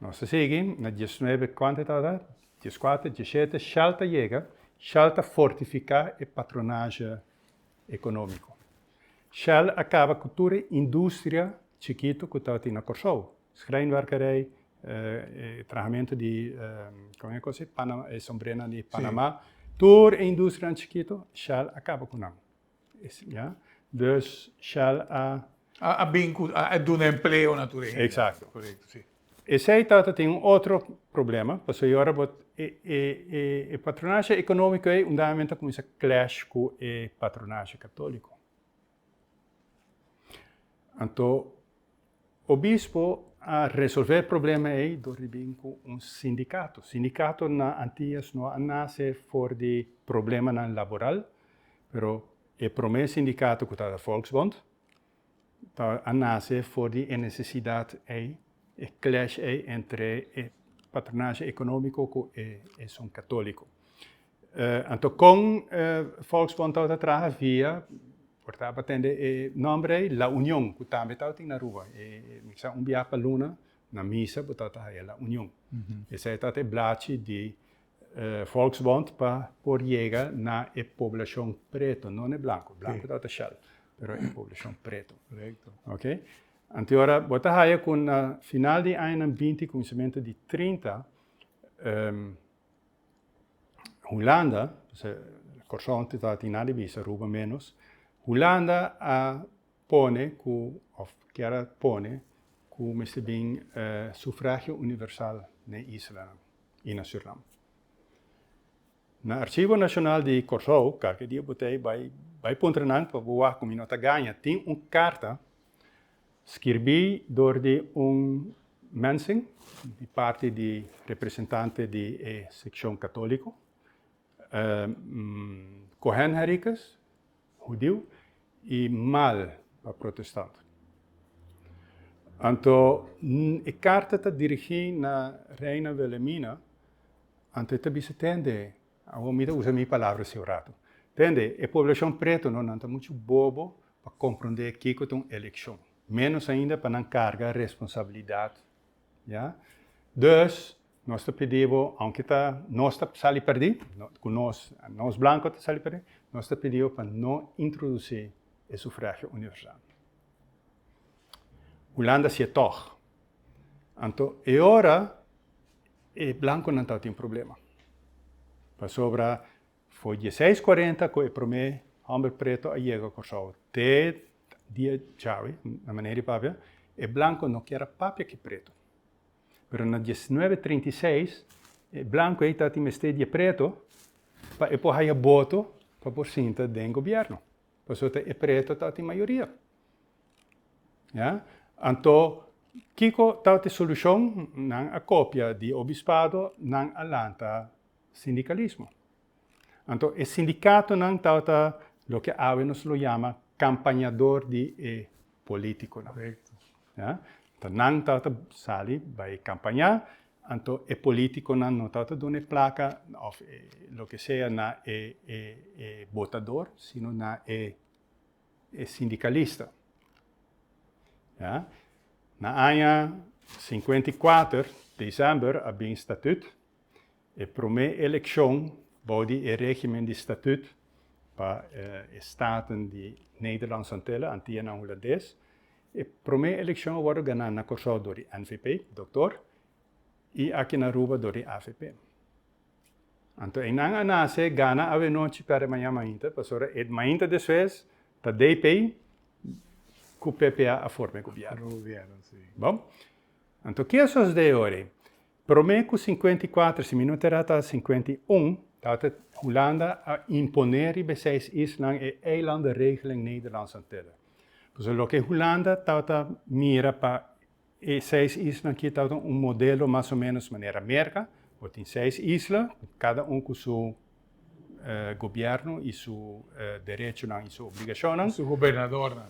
Nos ta sigui na dies nuebe kuantu e tabata? Dies kuater, dies shete, shal ta yega, shal ta fortifiká e patronaje ekonómiko. Shal a kaba ku tur e industria chikitu ku tabatin na Kòrsou, shreinwerkerij, e trahamentu di kon e kos ei? Pana, e sombrenan di Panamá, tur e industrianan chikitu, shal a kaba ku nan. Ya. Dus Shell a. A bin cu, a duna empleo na tur hende. Exacto. Corecto, si. Esey ta ta tin un otro problema, pasobra e ora bo e patronashi economico ey un dame men ta cuminsa clash cu e patronashi catolico. Anto. Obispo a resolve e problema ei dor di bin ku un sindikato. Sindikato na Antillas no a nase for di problemanan laboral, pero e promé sindikato ku tabata Volksbond ta a nase for di e nesesidat ei, e clash ei entre e patronashi ekonómiko ku esun katóliko. Anto kon Volksbond tabata traha via, por tabata tende e nòmber ei, La Union, ku tambe tabatin na Aruba. Mi sa un biaha pa luna, na misa bo tabata haya La Union. Esei tabata e blachi di Volksbond pa por yega na e poblashon preto, no na e blanku, blanku tabata shèl, pero e poblashon preto. Ok? Anto ora bo ta haya ku na final di añanan binti, kuminsamentu di trinta, Hulanda, p'esei Kòrsou antes tabata tin nada di bisa, Aruba ménos, Hulanda a pone ku òf kier a pone ku mester bin sufragio universal na e islanan i na Surinam. Na Archivo Nacional di Kòrsou, kalke dia bo ta bai, bai puntra nan pa bo wak ku mi no ta gaña, tin un karta Skirbí dor di un mensing di parti di representante di e sekshon katóliko, Kohen Henrikus, hudiu, i Mal pa protestant. Anto e karta ta dirigí na Reina Wilhelmina, anto e ta bisa, Tende, awor mi ta usa mi palabra siu ratu, tende, e poblashon preto no nan ta muchu bobo pa komprondé kiko ta un elekshon, ménos ainda pa nan karga responsabilidat, ya. Dus, nos ta pidi bo, ounke ta nos ta sali pèrdí, ku nos, nos blanko ta sali pèrdí, nos ta pidi bo pa no introdusí e sufragio universal. Hulanda sié tòg. Anto e ora e blankonan tabata tin problema, pasobra For dieseis kuarenta ku e promé hòmber preto a yega Kòrsou. Te dia djawe, na manera di papia, e blanko no kier a papia ku e preto. Pero na diesnuebe treinta i seis, e blanko ei tabata mester di e preto pa e por haya boto pa por sinta den gobièrnu. Pasobra e preto tabata mayoria. Ya? Anto, kiko tabata e solushon? Nan a kopia di obispado, nan a lanta sindikalismo. Anto e sindikatonan tabata loke awe nos lo yama kampañador di e polítikonan. Ya? Anto nan tabata sali bai kampañá, anto e polítikonan no tabata duna e plaka òf e loke sea na e e botador, sino na e e sindikalista. Ya? Na aña singkuenta i kuater, desember, a bin statüt E promé elekshon bou di e régimen di statüt pa e staten di Nederlandse Antillen, Antianan Hulandes, e promé elekshon a wòrdu ganá na Kòrsou dor di NVP, Dokter, i aki na Aruba dor di avp. Anto einan a nase gana awenochi, pèrdè mañan mainta, pasobra e mainta despues ta DP ku PPA a forma e gobièrnu. Anto ke a sosde ora ei? Promé ku sinkuenta i kuater, si mi no ta erá ta sinkuenta i un, tabata Hulanda a imponé riba e seis islanan e Eilandenregel en Nederlandse Antillen. Pasobra loke Hulanda tabata mira pa e seis islanan akí tabata un modelo mas o ménos manera Merka, bo tin seis isla, kada un ku su gobierno y su derechonan y su obligacionnan. Y su gobernadornan.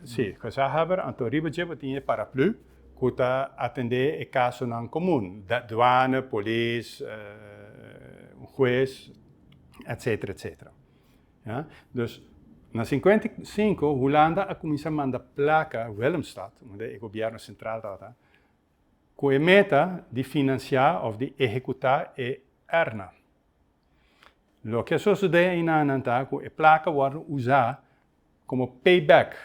Sí, gezaghebber anto riba dje bo tin e paraplu cu ta atende e casonan comun, duane, polis, un huez, etc. Etc. Ya. Dus, na cincuenta y cinco Hulanda a cuminsa manda placa, Willemstad, unda e gobierno central tabata, ku e meta di finansiá òf di ehekutá e ERNA. Loke a sosodé einanan ta ku e plaka wòrdu usá komo payback,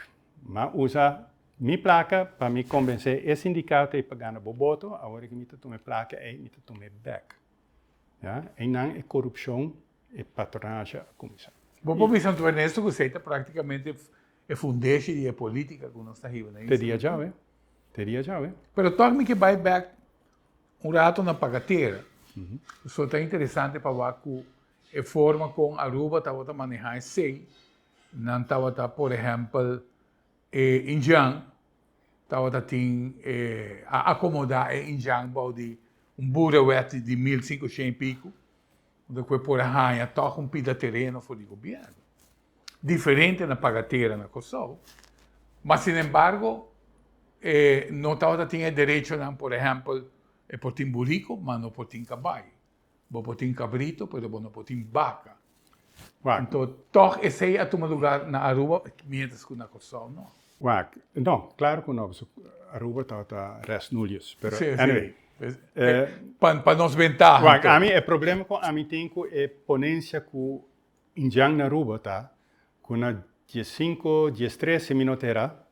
m'a usa mi plaka pa mi kombensé e sindikato ei pa gana bo boto, awor ke mi ta tuma e plaka ei, mi ta tuma e bèk. Ya, einan e korupshon, e patronage a kuminsá. Bo por bisa anto Ernesto ku esei ta praktikamente E fundeshi di e politica cu nos ta hiba na isla. Te dia djawe. Te dia djawe. Pero toch mi ke bai back un rato na pagatera. Pasobra ta interesante pa wak cu e forma con Aruba tabata maneha esey, nan tabata por ehempel e Indian tabata tin e a acomoda e Indian bou di un burrawet di mil cincucientu y pico unda ku e por a haña tòg un pida tereno for di gobièrnu. Diferente na paga tera na Kòrsou. Ma sinembargo, e no tabata tin e derechonan, por ehèmpel, e por tin buriku, ma no por tin kabai. Bo por tin kabritu, pero bo no por tin baka. Anto tòg esei a tuma lugar na Aruba, miéntras ku na Kòrsou no. Wak, no, claro cu no, pasobra Aruba tabata res nulius, pero anyway. Pa nos ventaha. Wak, ami e problema cu ami tin cu e ponencia cu Ndjan na Aruba ta cu na dies cinco, dies trece minut era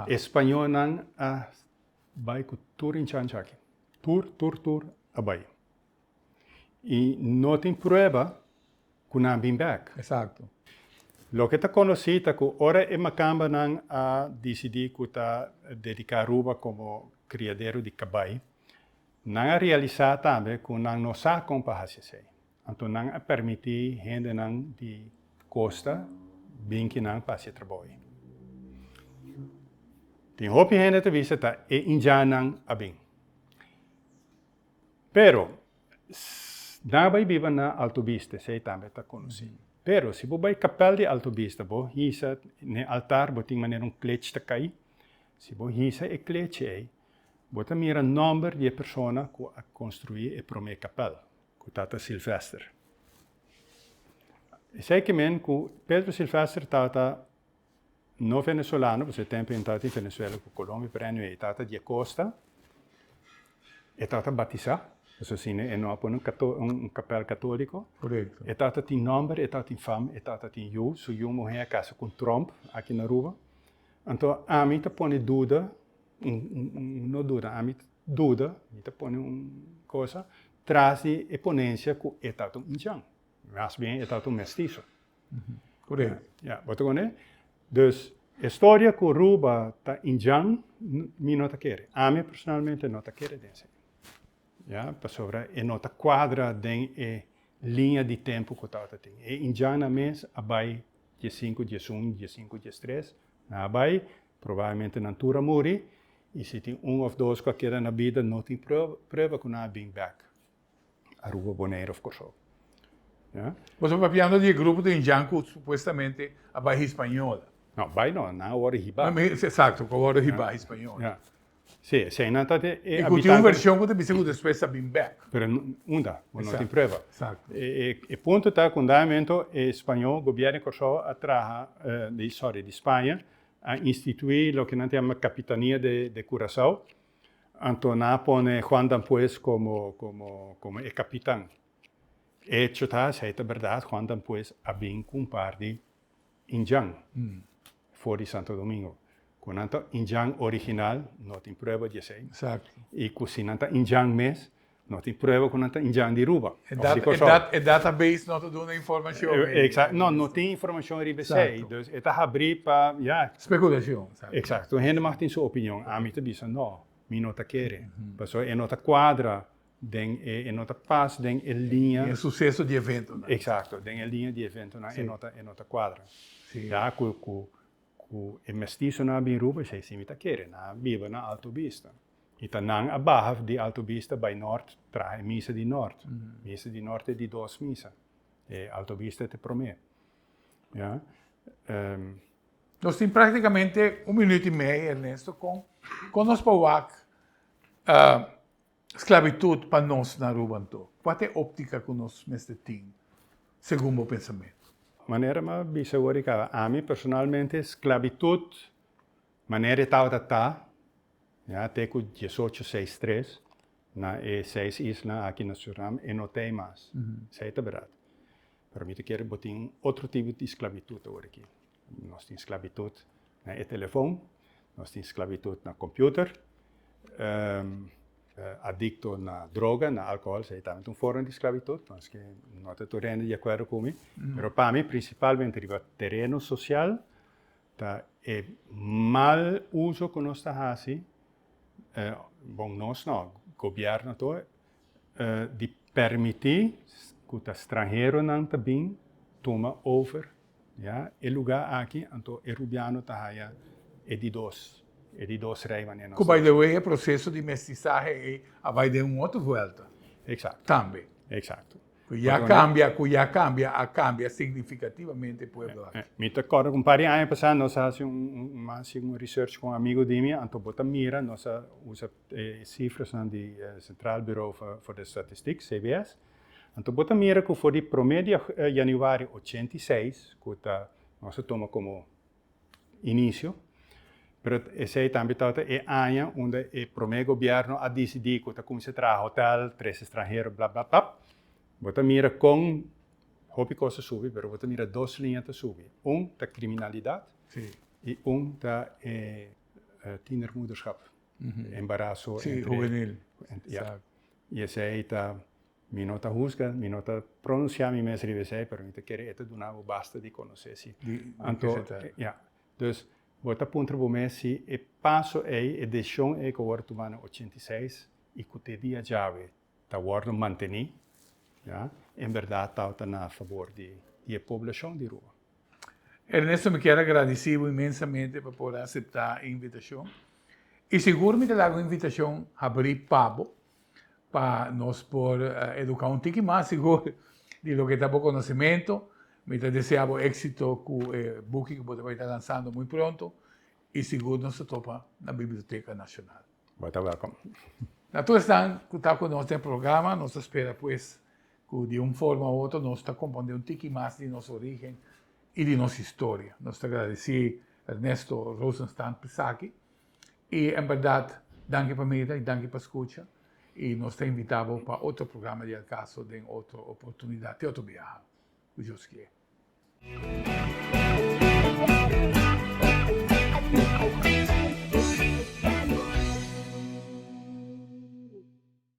e spañolnan a bay cu tur Ndjancha aki. Tur, tur, tur a bay. y no tin prueba cu nan a bin bek. Exacto. Loke ta conoci ta cu ora e makambanan a dicidi cu ta dedica Aruba como criadero di cabai, nan a realisa tambe cu nan no sa con pa haci esey. Anto nan a permiti hendenan di costa bin ki nan pa haci e trabou ey. Tin hopi hende ta bisa ta e injanan a bin. Pero, si nan a bai biba na Alto Vista, esei tambe ta konosé. Pero, si bo bai Kapèl di Alto Vista, bo hisa n'e altar, bo tin manera un klech ta kai. Si bo hisa e klechi ei, bo ta mira nòmber di e persona ku a konstruí e promé kapèl, ku tata Silvester. Esei ki men ku Pedro Silvester tabata. no venezolano, pasobra e tempo inta tin Venezuela cu Colombia, pero anyway e tata di Acosta, e tata batisa, pasobra asina e no a pone un capel catolico, e tata tin nomber, e tata tin fama, e tata tin yu, su yu muher a casa cu un Trump aki na Aruba, anto ami ta pone duda, no duda, ami ta duda, mi ta pone un cosa, tras di e ponencia cu e tata un Indian, mas bien e tata un mestizo. Corect. Ya, bo ta koné? Dus, e storia ku Ruba ta indjan, mi no ta kere. Ami personalmente no ta kere den esei. Ya, pasobra e no ta kuadra den e liña di tempu ku tabata tin. E indjannan mes a bai dies sinku, dies un, dies sinku, dies tres, nan a bai, probablemente nan tur a muri, i si tin un òf dos ku a keda na bida no tin prueba ku nan a bring back. Aruba, Bonaire of Kòrsou. Boso papiando di e grupo den Jan ku supuestamente a bai Hispaniola. No, bai no, nan a wòrdu hibá. Eksakto, ku a wòrdu hibá Hispaniola. Sí, eseinan ta e habitante. I ku tin un vershon ku ta bisa ku despues a bin bèk. Pero unda? Bo no tin prueba. Eksakto. E punto ta ku unda hamento e spañol, gobièrnu di Kòrsou a traha, sòri, di Spaña a instituí loke nan ta yama Kapitania de Kurasou. Anto nan a pone Juan dan Pues como como e capitan. Hecho ta, si ai ta berdad, Juan dan Pues a bin cu un par di Indian for di Santo Domingo. Cu nan ta Indian original, no tin prueba di esey. Y cu si nan ta Indian mes, No tin prueba cu nan ta injan di Aruba. E dat, e dat, e database no ta duna informacion. E, exact, no, no tin informacion riba esey. Dus e ta habri pa, ja. Speculacion. Exact. Un hende mag tin su opinion. Ami ta bisa no, mi no ta kere. Pasobra e no ta cuadra den e, e no ta pas den e liña. Den e suceso di eventonan. Exacto. Den e liña di eventonan e no ta, e no ta cuadra. Si. Ja, cu, cu, cu e mestizonan a bin Aruba, esey si mi ta kere. Nan a biba na Alto Vista. I ta nan a baha di Alto Vista bai nort traha e misa di nort. Misa di nort e di dos misa. E Alto Vista ta e promé. Ya. Ehm. Nos tin práktikamente un minüt i mei, Ernesto. Kon kon nos por wak sklabitut pa nos na Aruba anto? Kua ta e óptika ku nos mester tin segun bo pensamentu? Manera mi a bisa awor di kaba, ami personalmente sklabitut Manera e tabata ta, ya, te cu diesocho seis tres, na e seis isla aki na Surinam, e no ta ei mas. Esei ta berdad. Pero mi ta kere bo tin otro tipo di sclavitud awor aki. Nos tin sclavitud na e telefon, nos tin sclavitud na computer, adicto na droga, na alcohol, esei tambe ta un forma di sclavitud, paske no ta tur hende di acuerdo cu mi. Pero pa mi, principalmente riba tereno social, Ta e mal uso cu nos ta haci, bon nos no, gobierno to, di permiti cu ta stranheronan ta bin tuma over ya e lugar aki, anto e Rubiano ta haya e di dos, e di dos rey manera nos ta bisti. Cu by the way e proceso di mestizahe ey a bay den un otro vuelta tambe. Exacto. Cu ya cambia, cu ya cambia, a cambia significativamente pueblo aki. Mi ta corda cu un par di aña pasa nos a haci un, un, un, haci un research cu un amigo di mi, anto bo ta mira, nos a usa e cifrasnan di e Centraal Bureau for the Statistiek, CBS, anto bo ta mira cu for di prome di januari ochenta i seis, cu ta, nos a tuma como. inicio, pero esey tambe tabata e aña unda e prome gobierno a dicidi cu ta cuminsa traha hotel, tres estranhero, bla, bla, bla. Bo ta mira con hopi cos ta subi, pero bo ta mira dos liña ta subi. Un ta criminalidad y un ta e tienermoederschap, embarazo entre. Sí, juvenil. Ja. Y esey ta. Mi no ta husga, mi no ta pronunciá mi mes riba esei, pero mi ta kere e ta duna bo basta di conoce si anto, ya. Dus, bo ta puntra bo mes si e paso ei, e decision ei cu a worde tumá na ochenta i seis i cu te dia djawe ta worde mantení, ya, en berdad tawata na fabor di e poblacion di Ruma. Ernesto, mi kier a gradicí bo inmensamente pa por a aceptá e invitacion. I sigur mi ta laga un invitacion habrí pa bo. pa nos por educa un tiki mas sigur di loke ta bo conocimentu. Mi ta desea bo exito cu e buki cu bo ta bay ta lansando muy pronto y sigur nos ta topa na Biblioteca Nacional. Bo ta welcom. Na tur esnan cu ta cu nos den programa nos ta spera pues cu di un forma u otro nos ta comprende un tiki mas di nos origen y di nos historia. Nos ta agradeci Ernesto Rosenstand p'esaki. Y en berdad danki pa mira y danki pa scucha y nos ta invita bo pa otro programa di El Caso den otro oportunidad te otro biaha cu Dios kie.